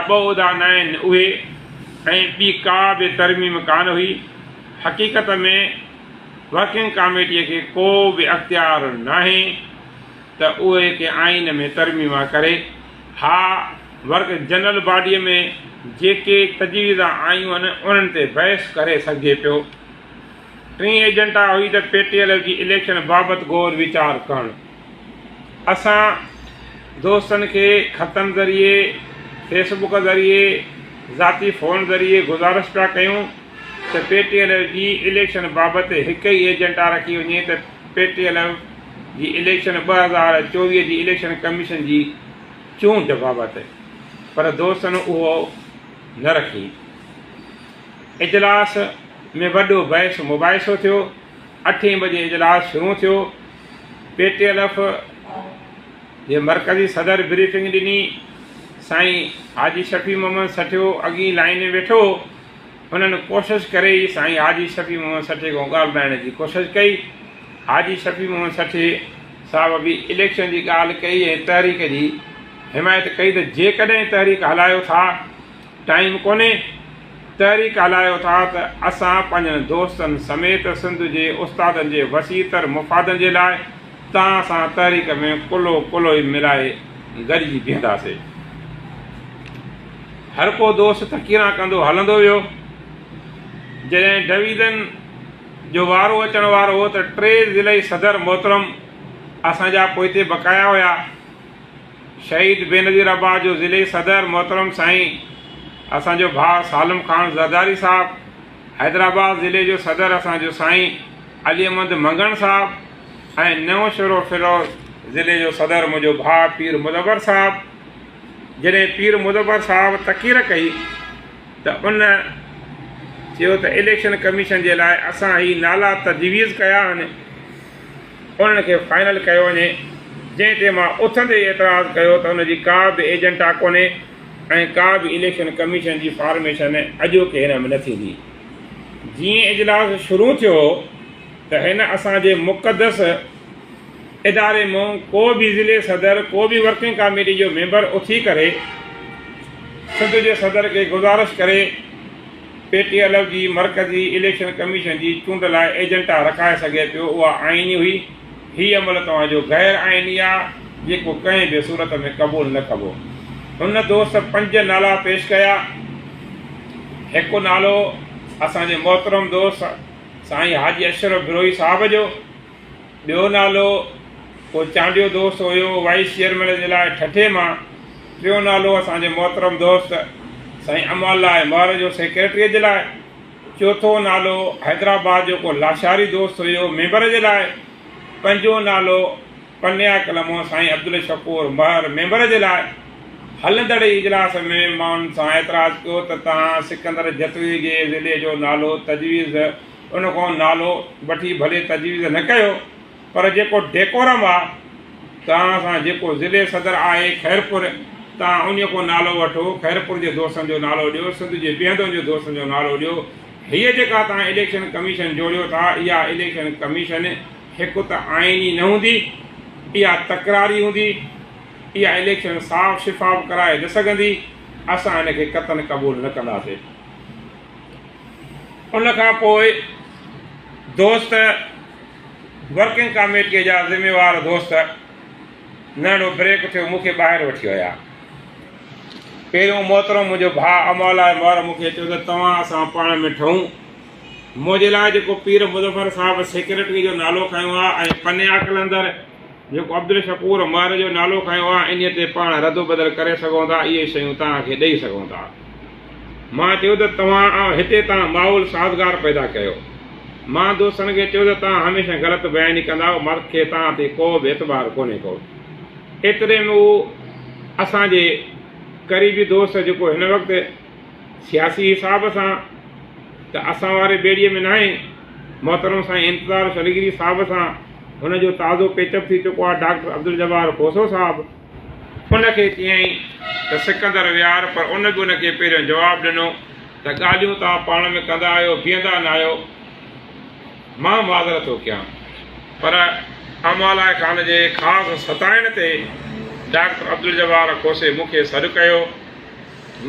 ٻه عهدا نه آهن اهي ۽ ٻي ڪا به ترميم ڪانه هئي، حقيقت ۾ ورڪنگ ڪاميٽيء کي ڪو به اختيار ناهي ته اهي ڪنهن آئين ۾ ترميما ڪري، ها ورڪ جنرل باڊيء ۾ جيڪي تجويزا آيون آهن انهن تي بحث ڪري سگهجي پيو. ٽين ايجنڊا هئي ته پي ٽي ايل ايف جي اليڪشن بابت غور ويچار ڪرڻ. اسان دوستن کي خطن ذريعي، فيس بڪ ذريعي، ذاتي فون ذريعي گذارش پيا ڪيون ته پي ٽي ايليف جي اليڪشن بابت هڪ ئي ايجنڊا رکي وڃي ته پي ٽي ايليف جي اليڪشن ٻه هزار چوويهه جي اليڪشن ڪميشن جي چونڊ بابت پر دوستن اهو نه رکي اجلاس ۾ وڏو بحث مباحثو ٿيو اٺين بجي اجلاس شروع ٿيو پي ٽي ايل ايف جي مرڪزي صدر بريفنگ ڏني، سائين حاجي شفيع محمد سٺيو اڳين لائين ۾ ويٺو هو، هنن ڪوشش ڪري ئي سائين حاجي شفيع محمد سٺيي کان ڳالهه ٻڌائڻ جي ڪوشش ڪئي، حاجي شفيع محمد سٺيي صاحب به اليڪشن جي ڳالهه ڪئي ۽ تحريڪ جي حمايت ڪئي ته جيڪڏهن تحريڪ هلايو ٿا. ٽائيم ڪونهي، تحريڪ هلايو ٿا ته اسان پنهنجن دوستن سميت سنڌ جي استادن جي وسيع تر مفادن جي لاء توهان سان تحريڪ ۾ ڪلهو ڪلهوئي ملائي گڏجي بيهنداسين. هرڪو دوست تقريران ڪندو هلندو ويو. جڏهن ڊويزن جو وارو اچڻ وارو هو ته ٽي ضلعي صدر محترم اسان جا پوئتي بقايا هيا. شهيد بينظير عباس جو ضلعي صدر محترم سائين اسان جو ڀاء سالم خان زرداري صاحب، حيدرآباد ضلعي جو صدر اسان جو سائين علي احمد منگڻ صاحب ۽ نئون شھرو فيروز ضلعي جو صدر منھنجو ڀاء پير مدبر صاحب جڏهن پير مدبر صاحب تقرير ڪئي ته ان چيو ته اليڪشن ڪميشن جي لاء اسان هي نالا تجويز ڪيا آھن. انهن کي فائنل ڪيو وڃي جنهن تي مان اٿندي ئي اعتراض ڪيو ته ان جي ڪا به ايجنڊا ڪونهي ۽ ڪا به اليڪشن ڪميشن جي فارميشن اڄوڪي هن ۾ نه ٿيندي جيئن اجلاس شروع ٿيو ته هن اسان جي مقدس اداري مون ڪو به ضلعي صدر ڪو به ورڪنگ ڪاميٽي جو ميمبر اٿي ڪري سنڌ جي صدر کي گذارش ڪري پي ٽي ايل ايف جي مرڪزي اليڪشن ڪميشن جي چونڊ لاء ايجنٽا رکائي سگهي پيو اها آئيني هئي، هي عمل توهان جو غير آئيني آ جيڪو ڪنهن به صورت ۾ قبول نه ڪبو. هن دوست پنج نالا پيش ڪيا هڪ نالو اسان جي محترم دوست سائين حاجي اشرف بروهي صاحب جو، ٻيو نالو ڪو چانڊيو دوست هيو وائيس چيئرمين جي لاء ٺٽي مان، ٽيون نالو اسان جي محترم دوست سائين امان الله مهر جو سيڪريٽريء جي لاء، چوٿون نالو حيدرآباد جو ڪو لاشاري دوست هيو ميمبر جي لاء، پنجون نالو پنيا ڪلمو سائين عبدالشڪور مهر ميمبر جي لاء، هلندڙ ئي اجلاس ۾ مان ان سان اعتراض ڪيو ته توهان سڪندر جتوئي جي ضلعي جو نالو تجويز ان کان نالو وٺي ڀلي تجويز نه ڪيو پر جيڪو ڊيڪورم آ توهان سان جيڪو ضلعي صدر آهي خيرپور توهان انهي کان نالو وٺو خيرپور جي دوستن جو نالو ڏيو سنڌ جي بيهندن جو دوستن جو نالو ڏيو هيء جيڪا توهان اليڪشن ڪميشن جوڙيو ٿا اها اليڪشن ڪميشن هڪ ته آئيني نه هوندي اها تڪراري هوندي اها اليڪشن صاف شفاف ڪرائي نه سگهندي اسان ان کي قطعن قبول نه ڪنداسي. ان کان پوء دوست ورڪنگ ڪاميٽيء جا ذميوار دوست ننڍڙو بريڪ اٿيو مون کي ٻاهر وٺي ويا. پهريون محترم منهنجو ڀاء امولا مور مون کي چيو ته توهان اسان پاڻ ۾ ٺهون. منهنجي لاء جيڪو پير مظفر صاحب سيڪريٽريء جو نالو کنيو آهي ۽ پنيا قلندر جيڪو عبدالشڪور مور جو نالو کنيو آهي انهيء تي پاڻ ردوبدل ڪري سگهون ٿا اهي شيون توهان کي ڏئي سگهون ٿا. مان چيو ته توهان هتي تان ماحول سازگار پيدا ڪيو. مان دوستن کي چيو ته توهان هميشه غلط بياني ڪندا آهيو مر کي توهان تي ڪو به اعتبار ڪونهي ڪو. ايتري ۾ هو اسان جي قريبي دوست جيڪو هن وقت سياسي حساب سان ته اسان واري ٻيڙي ۾ ناهي محترم سائين انتظار شلگيري صاحب سان هن جو تازو پيچ اپ ٿي چڪو آهي ڊاڪٽر عبدالجبار کوسو صاحب ان کي چيائين ته سڪندر ويهار پر ان به ان کي پهريون جواب ڏنو ته ڳالهيون توهان پاڻ ۾ ڪندا آهيو بيهندا نه آهيو مان معذرت ٿو ڪيان پر امالا خان جي خاص ستائڻ تي ڊاڪٽر عبدالجبار کوسي مون کي سڏ ڪيو.